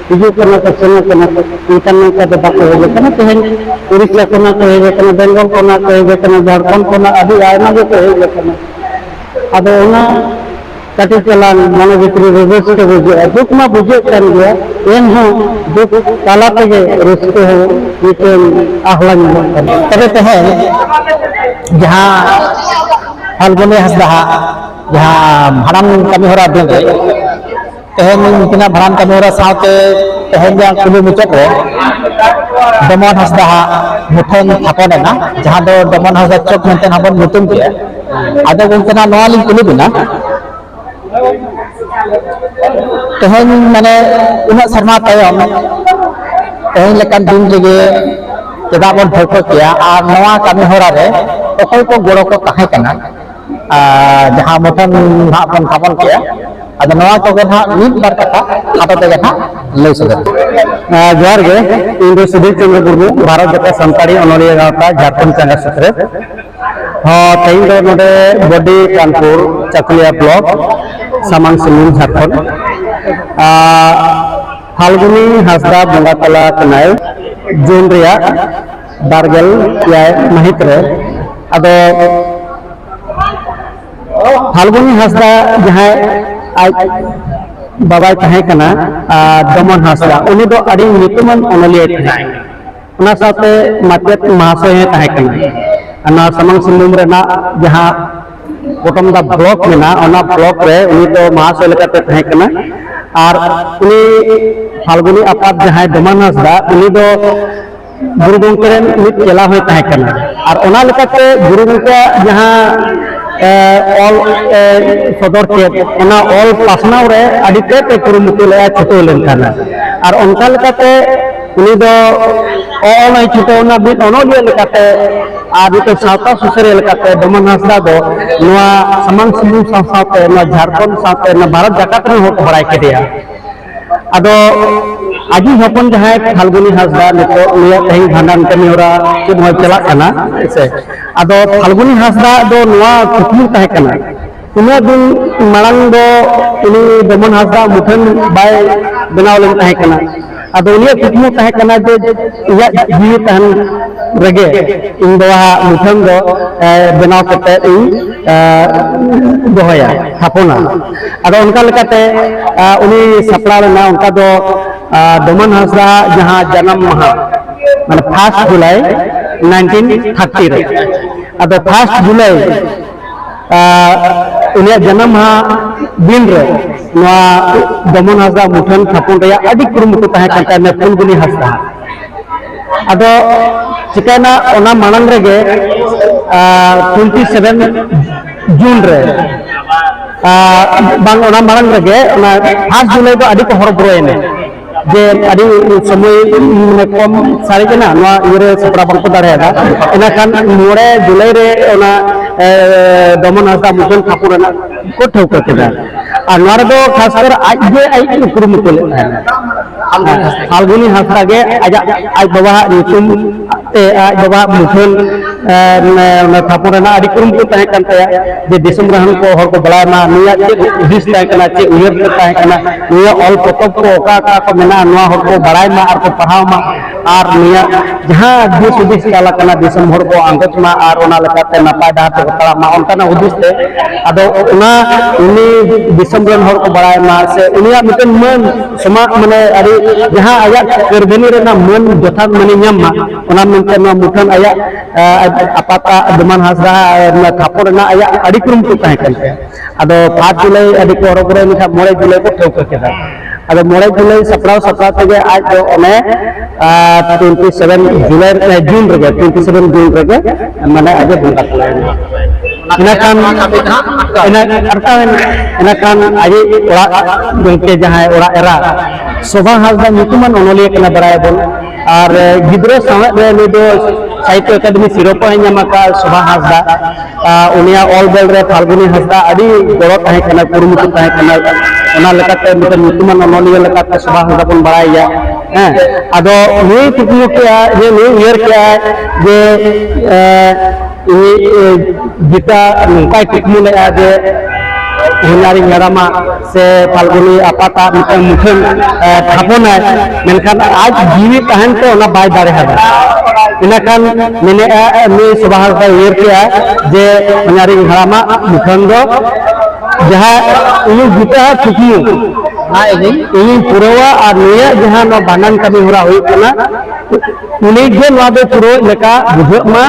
ᱦᱤᱡᱩᱜ ᱠᱟᱱᱟ ᱠᱚ ᱥᱮᱱᱚᱜ ᱠᱟᱱᱟ ᱠᱚ ᱢᱮᱱᱠᱷᱟᱱ ᱱᱚᱝᱠᱟ ᱫᱚ ᱵᱟᱠᱚ ᱦᱮᱡ ᱟᱠᱟᱱᱟ ᱛᱮᱦᱮᱧ ᱩᱲᱤᱥᱥᱟ ᱠᱷᱚᱱᱟᱜ ᱠᱚ ᱦᱮᱡ ᱟᱠᱟᱱᱟ ᱵᱮᱝᱜᱚᱞ ᱠᱷᱚᱱᱟᱜ ᱠᱚ ᱦᱮᱡ ᱟᱠᱟᱱᱟ ᱡᱷᱟᱲᱠᱷᱚᱸᱰ ᱠᱷᱚᱱᱟᱜ ᱟᱹᱰᱤ ᱟᱭᱢᱟ ᱜᱮᱠᱚ ᱦᱮᱡ ᱟᱠᱟᱱᱟ ᱟᱫᱚ ᱚᱱᱟ ᱠᱟᱹᱴᱤᱡ ᱪᱟᱞᱟᱝ ᱢᱚᱱᱮ ᱵᱷᱤᱛᱨᱤ ᱨᱮ ᱨᱟᱹᱥᱠᱟᱹ ᱵᱩᱡᱷᱟᱹᱜᱼᱟ ᱫᱩᱠ ᱢᱟ ᱵᱩᱡᱷᱟᱹᱜ ᱠᱟᱱ ᱜᱮᱭᱟ ᱮᱱᱦᱚᱸ ᱫᱩᱠ ᱛᱟᱞᱟ ᱛᱮᱜᱮ ᱨᱟᱹᱥᱠᱟᱹ ᱦᱚᱸ ᱢᱤᱫᱴᱮᱱ ᱟᱦᱞᱟ ᱧᱟᱢᱚᱜ ᱠᱟᱱᱟ ᱛᱚᱵᱮ ᱛᱮᱦᱮᱧ ᱡᱟᱦᱟᱸ ᱯᱷᱟᱞᱜᱩᱱᱤ ᱦᱟᱸᱥᱫᱟᱜ ᱡᱟᱦᱟᱸ ᱵᱷᱟᱸᱰᱟᱱ ᱠᱟᱹᱢᱤ ᱦᱚᱨᱟ ᱫᱤᱱ ᱨᱮ ᱛᱮᱦᱮᱧ ᱩᱱᱠᱤᱱᱟᱜ ᱵᱷᱟᱸᱰᱟᱱ ᱠᱟᱹᱢᱤ ᱦᱚᱨᱟ ᱥᱟᱶᱛᱮ ᱛᱮᱦᱮᱧ ᱡᱟᱦᱟᱸ ᱠᱩᱞᱦᱤ ᱢᱩᱪᱟᱹᱫ ᱨᱮ ᱰᱚᱢᱚᱱ ᱦᱟᱸᱥᱫᱟ ᱦᱟᱜ ᱢᱩᱴᱷᱟᱹᱱ ᱛᱷᱟᱯᱚᱱ ᱮᱱᱟ ᱡᱟᱦᱟᱸ ᱫᱚ ᱰᱚᱢᱚᱱ ᱦᱟᱸᱥᱫᱟ ᱪᱚᱠ ᱢᱮᱱᱛᱮ ᱦᱚᱸ ᱵᱚᱱ ᱧᱩᱛᱩᱢ ᱠᱮᱫᱼᱟ ᱟᱫᱚ ᱜᱚᱢᱠᱮ ᱱᱟᱜ ᱱᱚᱣᱟ ᱞᱤᱧ ᱠᱩᱞᱤ ᱵᱤᱱᱟ ᱛᱮᱦᱮᱧ ᱢᱟᱱᱮ ᱩᱱᱟᱹᱜ ᱥᱮᱨᱢᱟ ᱛᱟᱭᱚᱢ ᱛᱮᱦᱮᱧ ᱞᱮᱠᱟᱱ ᱫᱤᱱ ᱨᱮᱜᱮ ᱪᱮᱫᱟᱜ ᱵᱚᱱ ᱴᱷᱟᱹᱣᱠᱟᱹ ᱠᱮᱭᱟ ᱟᱨ ᱱᱚᱣᱟ ᱠᱟᱹᱢᱤ ᱦᱚᱨᱟ ᱨᱮ ᱚᱠᱚᱭ ᱠᱚ ᱜᱚᱲᱚ ᱠᱚ ᱛᱟᱦᱮᱸ ᱠᱟᱱᱟ ᱡᱟᱦᱟᱸ ᱢᱩᱴᱷᱟᱹᱱ ᱱᱟᱦᱟᱜ ᱵᱚᱱ ᱛᱷᱟᱯᱚᱱ ᱠᱮᱜᱼᱟ ᱟᱫᱚ ᱱᱚᱣᱟ ᱠᱚᱜᱮ ᱱᱟᱦᱟᱜ ᱢᱤᱫ ᱵᱟᱨ ᱠᱟᱛᱷᱟ ᱠᱷᱟᱴᱚ ᱛᱮᱜᱮ ᱱᱟᱦᱟᱜ ᱞᱟᱹᱭ ᱥᱚᱫᱚᱨ ᱡᱚᱦᱟᱨ ᱜᱮ ᱤᱧ ᱫᱚ ᱥᱩᱫᱷᱤᱨ ᱪᱚᱸᱫᱽᱨᱚ ᱢᱩᱨᱢᱩ ᱵᱷᱟᱨᱚᱛ ᱡᱟᱠᱟᱛ ᱥᱟᱱᱛᱟᱲᱤ ᱚᱱᱚᱞᱤᱭᱟᱹ ᱜᱟᱶᱛᱟ ᱡᱷᱟᱲᱠᱷᱚᱸᱰ ᱪᱟᱸᱜᱟ ᱥᱩᱛᱨᱮᱛ ᱦᱚᱸ ᱛᱮᱦᱮᱧ ᱫᱚ ᱱᱚᱰᱮ ᱵᱚᱰᱤ ᱠᱟᱱᱯᱩᱨ ᱪᱟᱠᱩᱞᱤᱭᱟ ᱵᱞᱚᱠ ᱥᱟᱢᱟᱝ ᱥᱩᱢᱩᱝ ᱡᱷᱟᱲᱠᱷᱚᱸᱰ ᱯᱷᱟᱞᱜᱩᱱᱤ ᱦᱟᱸᱥᱫᱟ ᱵᱚᱸᱜᱟ ᱛᱟᱞᱟ ᱠᱟᱱᱟᱭ ᱡᱩᱱ ᱨᱮᱭᱟᱜ ᱵᱟᱨᱜᱮᱞ ᱮᱭᱟᱭ ᱢᱟᱹᱦᱤᱛ ᱨᱮ ᱟᱫᱚ ᱯᱷᱟᱞᱜᱩᱱᱤ ᱦᱟᱸᱥᱫᱟ ᱡᱟᱦᱟᱸᱭ ᱟᱡ ᱵᱟᱵᱟᱭ ᱛᱟᱦᱮᱸ ᱠᱟᱱᱟ ᱫᱚᱢᱚᱱ ᱦᱟᱸᱥᱫᱟ ᱩᱱᱤ ᱫᱚ ᱟᱹᱰᱤ ᱧᱩᱛᱩᱢᱟᱱ ᱚᱱᱚᱞᱤᱭᱟᱹ ᱠᱟᱱᱟᱭ ᱚᱱᱟ ᱥᱟᱶᱛᱮ ᱢᱟᱪᱮᱫ ᱢᱟᱦᱟᱥᱚᱭ ᱦᱚᱸ ᱛᱟᱦᱮᱸ ᱠᱟᱱᱟ ᱚᱱᱟ ᱥᱟᱢᱟᱝ ᱥᱤᱝᱵᱷᱩᱢ ᱨᱮᱱᱟᱜ ᱡᱟᱦᱟᱸ ᱯᱚᱴᱚᱢ ᱫᱟ ᱵᱞᱚᱠ ᱢᱮᱱᱟᱜᱼᱟ ᱚᱱᱟ ᱵᱞᱚᱠ ᱨᱮ ᱩᱱᱤ ᱫᱚ ᱢᱟᱦᱟᱥᱚᱭ ᱞᱮᱠᱟᱛᱮ ᱛᱟᱦᱮᱸ ᱠᱟᱱᱟ ᱟᱨ ᱩᱱᱤ ᱯᱷᱟᱞᱜᱩᱱᱤ ᱟᱯᱟᱛ ᱡᱟᱦᱟᱸᱭ ᱫᱚᱢᱚᱱ ᱦᱟᱸᱥᱫᱟ ᱩᱱᱤ ᱫᱚ ᱜᱩᱨᱩ ᱜᱚᱢᱠᱮ ᱨᱮᱱ ᱢᱤᱫ ᱪᱮᱞᱟ ᱦᱚᱸᱭ ᱛᱟᱦᱮᱸ ᱠᱟᱱᱟ ᱟᱨ ᱚᱱᱟ ᱞᱮᱠᱟᱛᱮ ᱜᱩᱨᱩ ᱜᱚᱢᱠᱮᱭᱟᱜ ᱡᱟᱦᱟᱸ ᱚᱞ ᱥᱚᱫᱚᱨ ᱠᱮᱫ ᱚᱱᱟ ᱚᱞ ᱯᱟᱥᱱᱟᱣ ᱨᱮ ᱟᱹᱰᱤ ᱛᱮᱫ ᱮ ᱠᱩᱨᱩᱢᱩᱴᱩ ᱞᱮᱫᱼᱟ ᱪᱷᱩᱴᱟᱹᱣ ᱞᱮᱱ ᱛᱟᱦᱮᱱᱟ ᱟᱨ ᱚᱱᱠᱟ ᱞᱮᱠᱟᱛᱮ ᱩᱱᱤ ᱫᱚ ᱚᱞᱟᱭ ᱪᱷᱩᱴᱟᱹᱣᱱᱟ ᱢᱤᱫ ᱚᱱᱚᱞᱤᱭᱟᱹ ᱞᱮᱠᱟᱛᱮ ᱟᱨ ᱢᱤᱫᱴᱮᱱ ᱥᱟᱶᱛᱟ ᱥᱩᱥᱟᱹᱨᱤᱭᱟᱹ ᱞᱮᱠᱟᱛᱮ ᱰᱚᱢᱚᱱ ᱦᱟᱸᱥᱫᱟ ᱫᱚ ᱱᱚᱣᱟ ᱥᱟᱢᱟᱝ ᱥᱤᱝᱵᱷᱩᱢ ᱥᱟᱶ ᱥᱟᱶᱛᱮ ᱱᱚᱣᱟ ᱡᱷᱟᱲᱠᱷᱚᱸᱰ ᱥᱟᱶᱛᱮ ᱱᱚᱣᱟ ᱵᱷᱟᱨᱚᱛ ᱡᱟᱠᱟᱛ ᱨᱮᱱ ᱦᱚᱲ ᱠᱚ ᱵᱟᱲᱟᱭ ᱠᱮᱫᱮᱭᱟ ᱟᱫᱚ ᱟᱹᱰᱤ ᱦᱚᱯᱚᱱ ᱡᱟᱦᱟᱸᱭ ᱯᱷᱟᱞᱜᱩᱱᱤ ᱦᱟᱸᱥᱫᱟ ᱱᱤᱛᱚᱜ ᱩᱱᱤᱭᱟᱜ ᱛᱮᱦᱮᱧ ᱵᱷᱟᱸᱰᱟᱱ ᱠᱟᱹᱢᱤ ᱦᱚᱨᱟ ᱥᱮ ᱱᱚᱣᱟ ᱪᱟᱞᱟᱜ ᱠᱟᱱᱟ ᱦᱮᱸᱥᱮ ᱟᱫᱚ ᱯᱷᱟᱞᱜᱩᱱᱤ ᱦᱟᱸᱥᱫᱟ ᱫᱚ ᱱᱚᱣᱟ ᱠᱩᱠᱢᱩ ᱛᱟᱦᱮᱸ ᱠᱟᱱᱟ ᱩᱱᱟᱹᱜ ᱫᱤᱱ ᱢᱟᱲᱟᱝ ᱫᱚ ᱩᱱᱤ ᱫᱚᱢᱚᱱ ᱦᱟᱸᱥᱫᱟ ᱢᱩᱴᱷᱟᱹᱱ ᱵᱟᱭ ᱵᱮᱱᱟᱣ ᱞᱮᱱ ᱛᱟᱦᱮᱸ ᱠᱟᱱᱟ ᱟᱫᱚ ᱩᱱᱤᱭᱟᱜ ᱠᱩᱠᱢᱩ ᱛᱟᱦᱮᱸ ᱠᱟᱱᱟ ᱡᱮ ᱤᱧᱟᱹᱜ ᱡᱤᱣᱤ ᱛᱟᱦᱮᱱ ᱨᱮᱜᱮ ᱤᱧ ᱫᱚ ᱦᱟᱸᱜ ᱢᱩᱴᱷᱟᱹᱱ ᱫᱚ ᱵᱮᱱᱟᱣ ᱠᱟᱛᱮ ᱤᱧ ᱫᱚᱦᱚᱭᱟ ᱛᱷᱟᱯᱚᱱᱟ ᱟᱫᱚ ᱚᱱᱠᱟ ᱞᱮᱠᱟᱛᱮ ᱩᱱᱤ ᱥᱟᱯᱲᱟᱣ ᱞᱮᱱᱟ ᱚᱱᱠᱟ ᱫᱚ ᱰᱚᱢᱟᱱ ᱦᱟᱸᱥᱫᱟ ᱡᱟᱦᱟᱸ ᱡᱟᱱᱟᱢ ᱢᱟᱦᱟ ᱢᱟᱱᱮ ᱯᱷᱟᱥᱴ ᱡᱩᱞᱟᱭ ᱱᱟᱭᱤᱱᱴᱤᱱ ᱛᱷᱟᱨᱴᱤ ᱨᱮ ᱟᱫᱚ ᱯᱷᱟᱥᱴ ᱡᱩᱞᱟᱭ ᱩᱱᱤᱭᱟᱜ ᱡᱟᱱᱟᱢ ᱢᱟᱦᱟ ᱫᱤᱱ ᱨᱮ ᱱᱚᱣᱟ ᱰᱚᱢᱚᱱ ᱦᱟᱸᱥᱫᱟ ᱢᱩᱴᱷᱟᱹᱱ ᱛᱷᱟᱯᱚᱱ ᱨᱮᱭᱟᱜ ᱟᱹᱰᱤ ᱠᱩᱨᱩᱢᱩᱴᱩ ᱛᱟᱦᱮᱸ ᱠᱟᱱ ᱛᱟᱭᱟ ᱯᱷᱩᱞᱜᱩᱞᱤ ᱦᱟᱸᱥᱫᱟ ᱟᱫᱚ ᱪᱤᱠᱟᱹᱭᱮᱱᱟ ᱚᱱᱟ ᱢᱟᱲᱟᱝ ᱨᱮᱜᱮ ᱴᱩᱭᱮᱱᱴᱤ ᱥᱮᱵᱷᱮᱱ ᱡᱩᱱ ᱨᱮ ᱵᱟᱝ ᱚᱱᱟ ᱢᱟᱲᱟᱝ ᱨᱮᱜᱮ ᱚᱱᱟ ᱯᱷᱟᱥᱴ ᱡᱩᱞᱟᱭ ᱫᱚ ᱟᱹᱰᱤ ᱠᱚ ᱦᱚᱨᱚᱵᱚᱨᱚᱭᱮᱱᱟ ᱡᱮ ᱟᱹᱰᱤ ᱥᱚᱢᱚᱭ ᱢᱟᱱᱮ ᱠᱚᱢ ᱥᱟᱨᱮᱡ ᱮᱱᱟ ᱱᱚᱣᱟ ᱤᱭᱟᱹᱨᱮ ᱥᱟᱯᱲᱟᱣ ᱵᱟᱝᱠᱚ ᱫᱟᱲᱮᱭᱟᱫᱟ ᱤᱱᱟᱹᱠᱷᱟᱱ ᱢᱚᱬᱮ ᱡᱩᱞᱟᱭ ᱨᱮ ᱚᱱᱟ ᱫᱚᱢᱚᱱ ᱦᱟᱸᱥᱫᱟ ᱢᱩᱴᱷᱟᱹᱱ ᱴᱷᱟᱠᱩᱨ ᱨᱮᱱᱟᱜ ᱠᱚ ᱴᱷᱟᱹᱣᱠᱟᱹ ᱠᱮᱫᱟ ᱟᱨ ᱱᱚᱣᱟ ᱨᱮᱫᱚ ᱠᱷᱟᱥ ᱠᱚᱨᱮ ᱟᱡ ᱜᱮ ᱟᱡ ᱠᱚ ᱠᱩᱨᱩᱢᱩᱴᱩ ᱞᱮᱫ ᱛᱟᱦᱮᱱᱟ ᱯᱷᱟᱞᱜᱩᱱᱤ ᱦᱟᱸᱥᱫᱟ ᱜᱮ ᱟᱡᱟᱜ ᱟᱡ ᱵᱟᱵᱟᱣᱟᱜ ᱧᱩᱛᱩᱢ ᱛᱮ ᱟᱡ ᱵᱟᱵᱟᱣᱟᱜ ᱢᱩᱴᱷᱟᱹᱱ ᱚᱱᱟ ᱛᱷᱟᱯᱚᱱ ᱨᱮᱱᱟᱜ ᱟᱹᱰᱤ ᱠᱩᱨᱩᱢᱩᱴᱩ ᱛᱟᱦᱮᱸ ᱠᱟᱱ ᱛᱟᱭᱟ ᱡᱮ ᱫᱤᱥᱚᱢ ᱨᱮᱱ ᱠᱚ ᱦᱚᱲ ᱠᱚ ᱵᱟᱲᱟᱭ ᱢᱟ ᱱᱩᱭᱟᱜ ᱪᱮᱫ ᱦᱩᱫᱤᱥ ᱛᱟᱦᱮᱸ ᱠᱟᱱᱟ ᱪᱮᱫ ᱩᱭᱦᱟᱹᱨ ᱛᱟᱦᱮᱸ ᱠᱟᱱᱟ ᱱᱩᱭᱟᱜ ᱚᱞ ᱯᱚᱛᱚᱵ ᱠᱚ ᱚᱠᱟ ᱚᱠᱟ ᱠᱚ ᱢᱮᱱᱟᱜᱼᱟ ᱱᱚᱣᱟ ᱦᱚᱲ ᱠᱚ ᱵᱟᱲᱟᱭ ᱢᱟ ᱟᱨ ᱠᱚ ᱯᱟᱲᱦᱟᱣ ᱢᱟ ᱟᱨ ᱱᱤᱭᱟᱹ ᱡᱟᱦᱟᱸ ᱫᱤᱥ ᱦᱩᱫᱤᱥ ᱪᱟᱞᱟᱜ ᱠᱟᱱᱟ ᱫᱤᱥᱚᱢ ᱦᱚᱲ ᱠᱚ ᱟᱸᱜᱚᱪ ᱢᱟ ᱟᱨ ᱚᱱᱟ ᱞᱮᱠᱟᱛᱮ ᱱᱟᱯᱟᱭ ᱰᱟᱦᱟᱨ ᱛᱮᱠᱚ ᱛᱟᱲᱟᱢ ᱢᱟ ᱚᱱᱠᱟᱱᱟᱜ ᱦᱩᱫᱤᱥ ᱛᱮ ᱟᱫᱚ ᱚᱱᱟ ᱩᱱᱤ ᱫᱤᱥᱚᱢ ᱨᱮᱱ ᱦᱚᱲ ᱠᱚ ᱵᱟᱲᱟᱭ ᱢᱟ ᱥᱮ ᱩᱱᱤᱭᱟᱜ ᱢᱤᱫᱴᱮᱱ ᱢᱟᱹᱱ ᱥᱚᱢᱟᱡᱽ ᱢᱟᱱᱮ ᱟᱹᱰᱤ ᱡᱟᱦᱟᱸ ᱟᱭᱟᱜ ᱠᱟᱹᱨᱫᱷᱟᱹᱱᱤ ᱨᱮᱱᱟᱜ ᱢᱟᱹᱱ ᱡᱚᱛᱷᱟᱛ ᱢᱟᱹᱱᱮ ᱧᱟᱢ ᱢᱟ ᱚᱱᱟ ᱢᱮᱱᱛᱮ ᱱᱚᱣᱟ ᱢᱩᱴᱷᱟᱹᱱ ᱟᱭᱟᱜ ᱟᱯᱟᱛᱟᱜ ᱫᱚᱢᱟᱱ ᱦᱟᱸᱥᱫᱟ ᱛᱷᱟᱯᱚᱱ ᱨᱮᱱᱟᱜ ᱟᱭᱟᱜ ᱟᱹᱰᱤ ᱠᱩᱨᱩᱢᱩᱴᱩ ᱛᱟᱦᱮᱸ ᱠᱟᱱ ᱛᱟᱭᱟ ᱟᱫᱚ ᱯᱟᱸᱪ ᱡᱩᱞᱟᱭ ᱟᱹᱰᱤ ᱠᱚ ᱦᱚᱨᱚᱵᱚᱨᱚ ᱞᱮᱠᱷᱟᱱ ᱢᱚᱬᱮ ᱡᱩᱞᱟᱭ ᱠᱚ ᱴᱷᱟᱹᱣᱠᱟᱹ ᱠᱮᱫᱟ ᱟᱫᱚ ᱢᱚᱬᱮ ᱡᱩᱞᱟᱭ ᱥᱟᱯᱲᱟᱣ ᱥᱟᱯᱲᱟᱣ ᱛᱮᱜᱮ ᱟᱡ ᱫᱚ ᱚᱱᱮ ᱴᱩᱭᱮᱱᱴᱤ ᱥᱮᱵᱷᱮᱱ ᱡᱩᱞᱟᱭ ᱡᱩᱱ ᱨᱮᱜᱮ ᱴᱩᱭᱮᱱᱴᱤ ᱥᱮᱵᱷᱮᱱ ᱡᱩᱱ ᱨᱮᱜᱮ ᱢᱟᱱᱮ ᱟᱡ ᱫᱚ ᱵᱚᱸᱜᱟ ᱛᱟᱞᱟᱭᱮᱱᱟ ᱤᱱᱟᱹᱠᱷᱟᱱ ᱟᱴᱠᱟᱣᱮᱱ ᱤᱱᱟᱹᱠᱷᱟᱱ ᱟᱡ ᱚᱲᱟᱜ ᱜᱚᱢᱠᱮ ᱡᱟᱦᱟᱸᱭ ᱚᱲᱟᱜ ᱮᱨᱟ ᱥᱳᱵᱷᱟ ᱦᱟᱸᱥᱫᱟ ᱧᱩᱛᱩᱢᱟᱱ ᱚᱱᱚᱞᱤᱭᱟᱹ ᱠᱟᱱᱟ ᱵᱟᱲᱟᱭᱟᱵᱚᱱ ᱟᱨ ᱜᱤᱫᱽᱨᱟᱹ ᱥᱟᱶᱦᱮᱫ ᱨᱮ ᱱᱩᱭ ᱫᱚ ᱥᱟᱦᱤᱛᱭᱚ ᱟᱠᱟᱫᱮᱢᱤ ᱥᱤᱨᱳᱯᱟ ᱦᱚᱸᱭ ᱧᱟᱢ ᱟᱠᱟᱫ ᱥᱳᱵᱷᱟ ᱦᱟᱸᱥᱫᱟ ᱩᱱᱤᱭᱟᱜ ᱚᱞ ᱵᱮᱞ ᱨᱮ ᱯᱷᱟᱞᱜᱩᱱᱤ ᱦᱟᱸᱥᱫᱟ ᱟᱹᱰᱤ ᱜᱚᱲᱚ ᱛᱟᱦᱮᱸ ᱠᱟᱱᱟ ᱠᱩᱨᱩᱢᱩᱴᱩ ᱛᱟᱦᱮᱸ ᱠᱟᱱᱟ ᱚᱱᱟ ᱞᱮᱠᱟᱛᱮ ᱢᱤᱫᱴᱮᱱ ᱧᱩᱛᱩᱢᱟᱱ ᱚᱱᱚᱞᱤᱭᱟᱹ ᱞᱮᱠᱟᱛᱮ ᱥᱳᱵᱷᱟ ᱦᱟᱸᱥᱫᱟ ᱵᱚᱱ ᱵᱟᱲᱟᱭᱮᱭᱟ ᱦᱮᱸ ᱟᱫᱚ ᱱᱩᱭ ᱠᱩᱠᱢᱩ ᱠᱮᱜᱼᱟ ᱡᱮ ᱱᱩᱭ ᱩᱭᱦᱟᱹᱨ ᱠᱮᱜᱼᱟ ᱡᱮ ᱜᱤᱛᱟ ᱱᱚᱝᱠᱟᱭ ᱠᱩᱠᱢᱩ ᱞᱮᱜᱼᱟ ᱡᱮ ᱦᱩᱧᱟᱨᱤᱧ ᱦᱟᱲᱟᱢᱟ ᱥᱮ ᱯᱷᱟᱞᱜᱩᱱᱤ ᱟᱯᱟᱛᱟᱜ ᱢᱤᱫᱴᱟᱝ ᱢᱩᱴᱷᱟᱹᱱ ᱛᱷᱟᱯᱚᱱᱟᱭ ᱢᱮᱱᱠᱷᱟᱱ ᱟᱡ ᱡᱤᱣᱤ ᱛᱟᱦᱮᱱ ᱛᱮ ᱚᱱᱟ ᱵᱟᱭ ᱫᱟᱲᱮᱭᱟᱫᱟ ᱤᱱᱟᱹᱠᱷᱟᱱ ᱢᱮᱱᱮᱫᱼᱟ ᱩᱱᱤ ᱥᱚᱵᱷᱟ ᱦᱚᱲ ᱠᱚᱭ ᱩᱭᱦᱟᱹᱨ ᱠᱮᱜᱼᱟ ᱡᱮ ᱚᱱᱟᱨᱤᱧ ᱦᱟᱲᱟᱢᱟᱜ ᱢᱩᱴᱷᱟᱹᱱ ᱫᱚ ᱡᱟᱦᱟᱸ ᱩᱱᱤ ᱜᱤᱛᱟᱹ ᱠᱩᱠᱢᱩ ᱤᱧᱤᱧ ᱯᱩᱨᱟᱹᱣᱟ ᱟᱨ ᱱᱤᱭᱟᱹ ᱡᱟᱦᱟᱸ ᱱᱚᱣᱟ ᱵᱷᱟᱸᱰᱟᱱ ᱠᱟᱹᱢᱤ ᱦᱚᱨᱟ ᱦᱩᱭᱩᱜ ᱠᱟᱱᱟ ᱩᱱᱤ ᱜᱮ ᱱᱚᱣᱟ ᱫᱚ ᱯᱩᱨᱟᱹᱣ ᱞᱮᱠᱟ ᱵᱩᱡᱷᱟᱹᱜ ᱢᱟ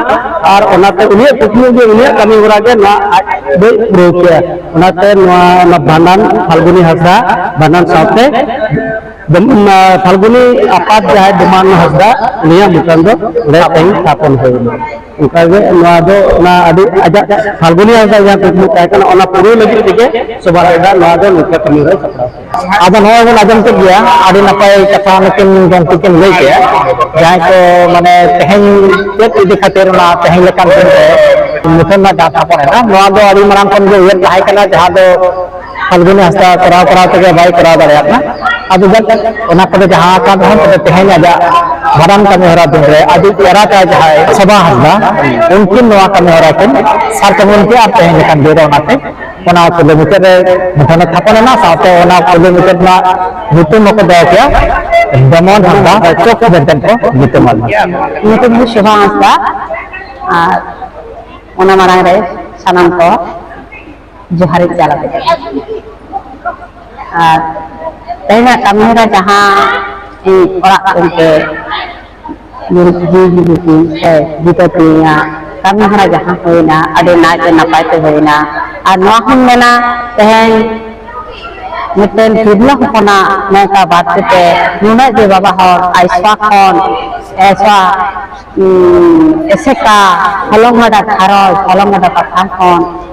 ᱟᱨ ᱚᱱᱟᱛᱮ ᱩᱱᱤᱭᱟᱜ ᱠᱩᱠᱢᱩ ᱜᱮ ᱩᱱᱤᱭᱟᱜ ᱠᱟᱹᱢᱤ ᱦᱚᱨᱟ ᱜᱮ ᱱᱚᱣᱟ ᱟᱡ ᱫᱚᱭ ᱯᱩᱨᱟᱹᱣ ᱠᱮᱭᱟ ᱚᱱᱟᱛᱮ ᱱᱚᱣᱟ ᱚᱱᱟ ᱵᱷᱟᱸᱰᱟᱱ ᱯᱷᱟᱞᱜᱩᱱᱤ ᱦᱟᱸᱥᱫᱟ ᱵᱷᱟᱸᱰᱟᱱ ᱥᱟᱶᱛᱮ ᱯᱷᱟᱞᱜᱩᱱᱤ ᱟᱯᱟᱛ ᱡᱟᱦᱟᱸᱭ ᱰᱚᱢᱟᱱ ᱦᱟᱸᱥᱫᱟ ᱩᱱᱤᱭᱟᱜ ᱢᱩᱴᱟᱱ ᱫᱚ ᱚᱸᱰᱮ ᱛᱮᱦᱮᱧ ᱛᱷᱟᱯᱚᱱ ᱦᱩᱭᱱᱟ ᱚᱱᱠᱟᱜᱮ ᱱᱚᱣᱟ ᱫᱚ ᱚᱱᱟ ᱟᱹᱰᱤ ᱟᱡᱟᱜ ᱯᱷᱟᱞᱜᱩᱱᱤ ᱦᱟᱸᱥᱫᱟ ᱡᱟᱦᱟᱸ ᱠᱩᱠᱢᱩ ᱛᱟᱦᱮᱸ ᱠᱟᱱᱟ ᱚᱱᱟ ᱯᱩᱨᱟᱹᱣ ᱞᱟᱹᱜᱤᱫ ᱛᱮᱜᱮ ᱥᱚᱵᱷᱟ ᱦᱟᱸᱥᱫᱟ ᱱᱚᱣᱟ ᱫᱚ ᱱᱤᱝᱠᱟᱹ ᱠᱟᱹᱢᱤ ᱦᱚᱨᱟᱭ ᱥᱟᱯᱲᱟᱣ ᱟᱫᱚ ᱱᱚᱣᱟ ᱵᱚᱱ ᱟᱸᱡᱚᱢ ᱠᱮᱫ ᱜᱮᱭᱟ ᱟᱹᱰᱤ ᱱᱟᱯᱟᱭ ᱠᱟᱛᱷᱟ ᱱᱩᱠᱤᱱ ᱜᱚᱢᱠᱮ ᱠᱤᱱ ᱞᱟᱹᱭ ᱠᱮᱫᱼᱟ ᱡᱟᱦᱟᱸᱭ ᱠᱚ ᱢᱟᱱᱮ ᱛᱮᱦᱮᱧ ᱪᱮᱫ ᱤᱫᱤ ᱠᱷᱟᱹᱛᱤᱨ ᱚᱱᱟ ᱛᱮᱦᱮᱧ ᱞᱮᱠᱟᱱ ᱫᱤᱱ ᱨᱮ ᱢᱩᱴᱷᱟᱹᱱ ᱨᱮᱱᱟᱜ ᱜᱟᱶᱛᱟ ᱠᱚ ᱨᱮᱱᱟ ᱱᱚᱣᱟ ᱫᱚ ᱟᱹᱰᱤ ᱢᱟᱲᱟᱝ ᱠᱷᱚᱱ ᱜᱮ ᱩᱭᱦᱟᱹᱨ ᱛᱟᱦᱮᱸ ᱠᱟᱱᱟ ᱡᱟᱦᱟᱸ ᱫᱚ ᱯᱷᱟᱞᱜᱩᱱᱤ ᱦᱟᱸᱥᱫᱟ ᱠᱚᱨᱟᱣ ᱠᱚᱨᱟᱣ ᱛᱮᱜᱮ ᱵᱟᱭ ᱠᱚᱨᱟᱣ ᱫᱟᱲᱮᱭᱟᱜ ᱠᱟᱱᱟ ᱟᱫᱚ ᱡᱟᱠ ᱚᱱᱟ ᱠᱚᱫᱚ ᱡᱟᱦᱟᱸ ᱟᱠᱟᱱ ᱨᱮᱦᱚᱸ ᱛᱚᱵᱮ ᱛᱮᱦᱮᱧ ᱟᱡᱟᱜ ᱵᱷᱟᱰᱟᱱ ᱠᱟᱹᱢᱤ ᱦᱚᱨᱟ ᱫᱤᱱ ᱨᱮ ᱟᱹᱰᱤ ᱮᱨᱟ ᱛᱟᱭ ᱡᱟᱦᱟᱸᱭ ᱥᱚᱵᱷᱟ ᱦᱟᱸᱥᱫᱟ ᱩᱱᱠᱤᱱ ᱱᱚᱣᱟ ᱠᱟᱹᱢᱤ ᱦᱚᱨᱟ ᱠᱤᱱ ᱥᱟᱨ ᱠᱟᱹᱢᱤ ᱠᱮᱫᱼᱟ ᱛᱮᱦᱮᱧ ᱞᱮᱠᱟᱱ ᱫᱤᱱ ᱨᱮ ᱚᱱᱟᱛᱮ ᱚᱱᱟ ᱠᱩᱞᱤ ᱢᱩᱪᱟᱹᱫ ᱨᱮ ᱢᱩᱴᱷᱟᱹᱱ ᱮ ᱛᱷᱟᱯᱚᱱ ᱮᱱᱟ ᱥᱟᱶᱛᱮ ᱚᱱᱟ ᱠᱩᱞᱤ ᱢᱩᱪᱟᱹᱫ ᱨᱮᱱᱟᱜ ᱧᱩᱛᱩᱢ ᱦᱚᱸᱠᱚ ᱫᱚᱦᱚ ᱠᱮᱭᱟ ᱫᱚᱢᱚᱱ ᱦᱟᱸᱥᱫᱟ ᱪᱚᱠ ᱢᱮᱱᱛᱮ ᱠᱚ ᱧᱩᱛᱩᱢ ᱟᱫ ᱧᱩᱛᱩᱢ ᱫᱚ ᱥᱳᱵᱷᱟ ᱦᱟᱸᱥᱫᱟ ᱟᱨ ᱚᱱᱟ ᱢᱟᱲᱟᱝ ᱨᱮ ᱥᱟᱱᱟᱢ ᱠᱚ ᱡᱚᱦᱟᱨᱤᱧ ᱪᱟᱞ ᱟᱯᱮ ᱟᱨ ᱛᱮᱦᱮᱧᱟᱜ ᱠᱟᱹᱢᱤᱦᱚᱨᱟ ᱡᱟᱦᱟᱸ ᱤᱧ ᱚᱲᱟᱜ ᱜᱚᱢᱠᱮ ᱵᱤᱫᱟᱹ ᱠᱟᱹᱞᱤᱧᱟ ᱠᱟᱹᱢᱤ ᱦᱚᱨᱟ ᱡᱟᱦᱟᱸ ᱦᱩᱭᱱᱟ ᱟᱹᱰᱤ ᱱᱟᱭᱛᱮ ᱱᱟᱯᱟᱭ ᱛᱮ ᱦᱩᱭᱱᱟ ᱟᱨ ᱱᱚᱣᱟ ᱦᱚᱸᱧ ᱢᱮᱱᱟ ᱛᱮᱦᱮᱧ ᱢᱤᱫᱴᱮᱱ ᱛᱤᱨᱞᱟᱹ ᱦᱚᱯᱚᱱᱟᱜ ᱱᱚᱝᱠᱟ ᱵᱟᱫ ᱠᱟᱛᱮ ᱱᱩᱱᱟᱹᱜ ᱡᱮ ᱵᱟᱵᱟ ᱦᱚᱲ ᱟᱭᱥᱟ ᱠᱷᱚᱱ ᱟᱭᱥᱟ ᱮᱥᱮᱠᱟ ᱦᱚᱞᱚᱝ ᱜᱟᱰᱟ ᱜᱷᱟᱨᱚᱸᱡᱽ ᱦᱚᱞᱚᱝ ᱜᱟᱰᱟ ᱯᱟᱛᱷᱟᱢ ᱠᱷᱚᱱ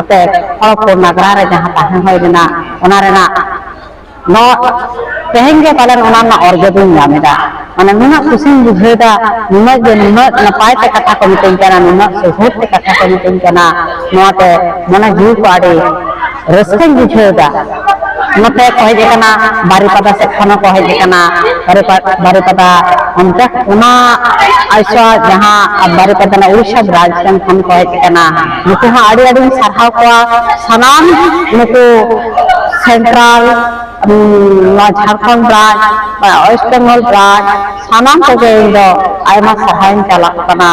ᱟᱯᱮ ᱦᱚᱲ ᱠᱚ ᱱᱟᱜᱽᱨᱟ ᱨᱮ ᱡᱟᱦᱟᱸ ᱛᱟᱦᱮᱸ ᱦᱩᱭ ᱞᱮᱱᱟ ᱚᱱᱟ ᱨᱮᱱᱟᱜ ᱱᱚᱣᱟ ᱛᱮᱦᱮᱧ ᱜᱮ ᱯᱟᱞᱮᱱ ᱚᱱᱟ ᱨᱮᱱᱟᱜ ᱚᱨᱡᱚ ᱫᱚᱧ ᱧᱟᱢ ᱮᱫᱟ ᱢᱟᱱᱮ ᱱᱩᱱᱟᱹᱜ ᱠᱩᱥᱤᱧ ᱵᱩᱡᱷᱟᱹᱣᱫᱟ ᱱᱩᱱᱟᱹᱜ ᱜᱮ ᱱᱩᱱᱟᱹᱜ ᱱᱟᱯᱟᱭ ᱛᱮ ᱠᱟᱛᱷᱟ ᱠᱚ ᱢᱤᱛᱟᱹᱧ ᱠᱟᱱᱟ ᱱᱩᱱᱟᱹᱜ ᱥᱩᱦᱩᱫ ᱛᱮ ᱠᱟᱛᱷᱟ ᱠᱚ ᱢᱤᱛᱟᱹᱧ ᱠᱟᱱᱟ ᱱᱚᱣᱟᱛᱮ ᱢᱚᱱᱮ ᱡᱤᱣᱤ ᱠᱚ ᱟᱹᱰᱤ ᱨᱟᱹᱥᱠᱟᱹᱧ ᱵᱩᱡᱷᱟᱹᱣᱫᱟ ᱱᱚᱛᱮ ᱠᱚ ᱦᱮᱡ ᱟᱠᱟᱱᱟ ᱵᱟᱨᱤᱯᱟᱫᱟ ᱥᱮᱫ ᱠᱷᱚᱱ ᱦᱚᱸᱠᱚ ᱦᱮᱡ ᱟᱠᱟᱱᱟ ᱵᱟᱨᱤᱯᱟᱫᱟ ᱚᱱᱛᱮ ᱚᱱᱟ ᱟᱭᱥᱟ ᱡᱟᱦᱟᱸ ᱵᱟᱨᱤᱯᱟᱫᱟ ᱨᱮᱱᱟᱜ ᱩᱲᱤᱥᱥᱟ ᱵᱨᱟᱡᱽ ᱥᱮᱱ ᱠᱷᱚᱱ ᱠᱚ ᱦᱮᱡ ᱟᱠᱟᱱᱟ ᱱᱩᱠᱩ ᱦᱚᱸ ᱟᱹᱰᱤ ᱟᱹᱰᱤᱧ ᱥᱟᱨᱦᱟᱣ ᱠᱚᱣᱟ ᱥᱟᱱᱟᱢ ᱱᱩᱠᱩ ᱥᱮᱱᱴᱨᱟᱞ ᱱᱚᱣᱟ Jharkhand branch west Bengal branch ᱥᱟᱱᱟᱢ ᱠᱚᱜᱮ ᱤᱧ ᱫᱚ ᱟᱭᱢᱟ ᱥᱟᱨᱦᱟᱣ ᱤᱧ ᱪᱟᱞᱟᱜ ᱠᱟᱱᱟ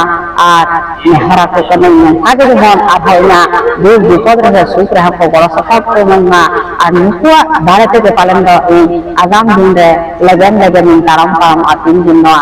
ᱟᱨ ᱱᱮᱦᱚᱨ ᱟᱠᱚ ᱠᱟᱹᱱᱟᱹᱧ ᱱᱚᱝᱠᱟ ᱜᱮ ᱡᱮᱢᱚᱱ ᱟᱨᱦᱚᱸ ᱤᱧᱟᱹᱜ ᱫᱩᱠ ᱵᱤᱯᱚᱫ ᱨᱮᱦᱚᱸ ᱥᱩᱠ ᱨᱮᱦᱚᱸ ᱠᱚ ᱜᱚᱲᱚ ᱥᱚᱯᱚᱦᱚᱫ ᱠᱚ ᱮᱢᱟᱹᱧ ᱢᱟ ᱟᱨ ᱱᱩᱠᱩᱣᱟᱜ ᱫᱟᱲᱮ ᱛᱮᱜᱮ ᱯᱟᱞᱮᱱ ᱫᱚ ᱤᱧ ᱟᱜᱟᱢ ᱫᱤᱱ ᱨᱮ ᱞᱮᱜᱮᱢ ᱞᱮᱜᱮᱢᱤᱧ ᱛᱟᱲᱟᱢ ᱯᱟᱨᱚᱢᱚᱜᱼᱟ ᱛᱤᱱ ᱫᱤᱱ ᱱᱚᱣᱟ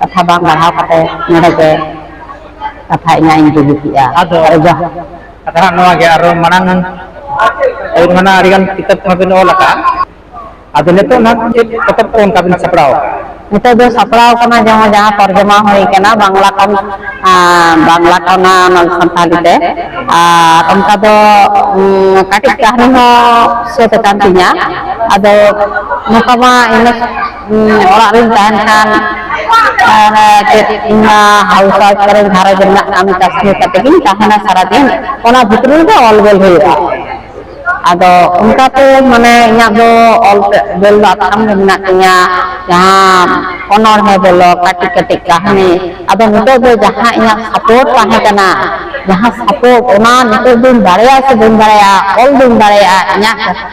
ᱠᱟᱛᱷᱟ ᱵᱟᱝ ᱵᱟᱲᱦᱟᱣ ᱠᱟᱛᱮ ᱱᱚᱰᱮ ᱜᱮ ᱠᱟᱛᱷᱟ ᱤᱧᱟᱹᱜ ᱤᱧ ᱵᱩᱡᱷᱟᱹᱣ ᱠᱮᱫᱼᱟ ᱟᱫᱚ ᱠᱟᱛᱷᱟ ᱦᱟᱸᱜ ᱱᱚᱣᱟ ᱜᱮ ᱟᱨᱚ ᱢᱟᱲᱟᱝ ᱟᱹᱵᱤᱱ ᱢᱟᱱᱟ ᱟᱹᱰᱤ ᱜᱟᱱ ᱠᱤᱛᱟᱹᱵ ᱠᱚᱦᱚᱸ ᱵᱤᱱ ᱚᱞ ᱟᱠᱟᱫᱼᱟ ᱟᱫᱚ ᱱᱤᱛᱚᱜ ᱱᱟᱦᱟᱜ ᱪᱮᱫ ᱯᱚᱛᱚᱵ ᱠᱚ ᱚᱱᱠᱟ ᱵᱤᱱ ᱥᱟᱯᱲᱟᱣ ᱟᱠᱟᱫᱼᱟ ᱱᱤᱛᱚᱜ ᱫᱚ ᱥᱟᱯᱲᱟᱣ ᱠᱟᱱᱟ ᱡᱟᱦᱟᱸ ᱡᱟᱦᱟᱸ ᱛᱚᱨᱡᱚᱢᱟ ᱦᱩᱭ ᱠᱟᱱᱟ ᱵᱟᱝᱞᱟ ᱠᱷᱚᱱ ᱵᱟᱝᱞᱟ ᱠᱷᱚᱱ ᱥᱟᱱᱛᱟᱲᱤ ᱛᱮ ᱟᱨ ᱚᱱᱠᱟ ᱫᱚ ᱠᱟᱹᱴᱤᱡ ᱠᱟᱹᱦᱱᱤ ᱦᱚᱸ ᱥᱟᱹᱛ ᱟᱠᱟᱱ ᱛᱤᱧᱟ ᱟᱫᱚ ᱱᱚᱝᱠᱟ ᱢᱟ ᱤᱱᱟᱹ ᱚᱲᱟᱜ ᱨᱤᱧ ᱛᱟᱦᱮᱱ ᱠᱷᱟᱱ ᱪᱮᱫ ᱤᱧ ᱦᱟᱣᱩᱥ ᱣᱟᱭᱤᱯ ᱠᱚᱨᱮ ᱜᱷᱟᱨᱚᱸᱡᱽ ᱨᱮᱱᱟᱜ ᱠᱟᱹᱢᱤ ᱠᱟᱹᱥᱱᱤ ᱠᱟᱛᱮ ᱜᱤᱧ ᱛᱟᱦᱮᱱᱟ ᱥᱟᱨᱟᱫᱤᱱ ᱚᱱᱟ ᱵᱷᱤᱛᱨᱤ ᱨᱮᱜᱮ ᱚᱞ ᱜᱚᱞ ᱦᱩᱭᱩᱜᱼᱟ ᱟᱫᱚ ᱚᱱᱠᱟᱛᱮ ᱢᱟᱱᱮ ᱤᱧᱟᱹᱜ ᱫᱚ ᱚᱞ ᱜᱚᱞ ᱫᱚ ᱟᱛᱷᱟᱢ ᱜᱮ ᱢᱮᱱᱟᱜ ᱛᱤᱧᱟ ᱡᱟᱦᱟᱸ ᱚᱱᱚᱬᱦᱮ ᱵᱚᱞᱚ ᱠᱟᱹᱴᱤᱡ ᱠᱟᱹᱴᱤᱡ ᱠᱟᱹᱦᱱᱤ ᱟᱫᱚ ᱱᱤᱛᱚᱜ ᱫᱚ ᱡᱟᱦᱟᱸ ᱤᱧᱟᱹᱜ ᱥᱟᱯᱳᱨᱴ ᱛᱟᱦᱮᱸ ᱠᱟᱱᱟ ᱡᱟᱦᱟᱸ ᱥᱟᱯᱳᱨᱴ ᱚᱱᱟ ᱱᱤᱛᱚᱜ ᱫᱚᱧ ᱫᱟᱲᱮᱭᱟᱜᱼᱟ ᱥᱮ ᱵᱟᱹᱧ ᱫᱟᱲᱮᱭᱟᱜᱼᱟ ᱚᱞ ᱫᱚᱧ ᱫᱟᱲᱮᱭᱟᱜᱼᱟ ᱤᱧᱟᱹᱜ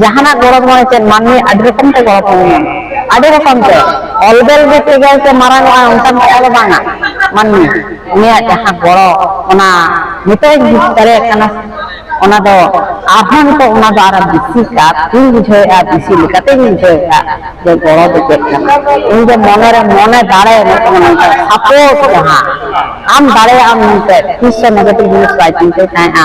ᱡᱟᱦᱟᱱᱟᱜ ᱜᱚᱲᱚ ᱢᱟᱱᱮ ᱪᱮᱫ ᱢᱟᱹᱱᱢᱤ ᱟᱹᱰᱤ ᱨᱚᱠᱚᱢ ᱛᱮ ᱜᱚᱲᱚ ᱠᱚ ᱧᱟᱢᱟ ᱟᱹᱰᱤ ᱨᱚᱠᱚᱢ ᱛᱮ ᱚᱞᱵᱮᱞ ᱜᱮ ᱛᱮᱜᱮ ᱥᱮ ᱢᱟᱨᱟᱝᱚᱜᱼᱟ ᱚᱱᱠᱟᱱ ᱠᱟᱛᱷᱟ ᱫᱚ ᱵᱟᱝᱟ ᱢᱟᱹᱱᱢᱤ ᱩᱱᱤᱭᱟᱜ ᱡᱟᱦᱟᱸ ᱜᱚᱲᱚ ᱚᱱᱟ ᱱᱤᱛᱚᱜ ᱵᱩᱡᱽ ᱫᱟᱲᱮᱭᱟᱜ ᱠᱟᱱᱟ ᱚᱱᱟ ᱫᱚ ᱟᱨᱦᱚᱸ ᱱᱤᱛᱚᱜ ᱚᱱᱟ ᱫᱚ ᱟᱨᱦᱚᱸ ᱵᱮᱥᱤ ᱠᱟᱛᱮᱧ ᱵᱩᱡᱷᱟᱹᱣᱮᱫᱼᱟ ᱵᱮᱥᱤ ᱞᱮᱠᱟᱛᱮᱧ ᱵᱩᱡᱷᱟᱹᱣᱮᱫᱼᱟ ᱡᱮ ᱜᱚᱲᱚ ᱫᱚ ᱪᱮᱫ ᱠᱟᱱᱟ ᱤᱧ ᱫᱚ ᱢᱚᱱᱮᱨᱮ ᱢᱚᱱᱮ ᱫᱟᱲᱮ ᱢᱤᱫᱴᱟᱝ ᱱᱚᱝᱠᱟ ᱥᱟᱯᱳᱨᱴ ᱡᱟᱦᱟᱸ ᱟᱢ ᱫᱟᱲᱮᱭᱟᱜᱼᱟᱢ ᱢᱮᱱᱛᱮ ᱛᱤᱥ ᱦᱚᱸ ᱱᱮᱜᱮᱴᱤᱵᱷ ᱡᱤᱱᱤᱥ ᱵᱟᱭ ᱪᱤᱱᱛᱟᱹᱭ ᱛᱟᱦᱮᱸᱫᱼᱟ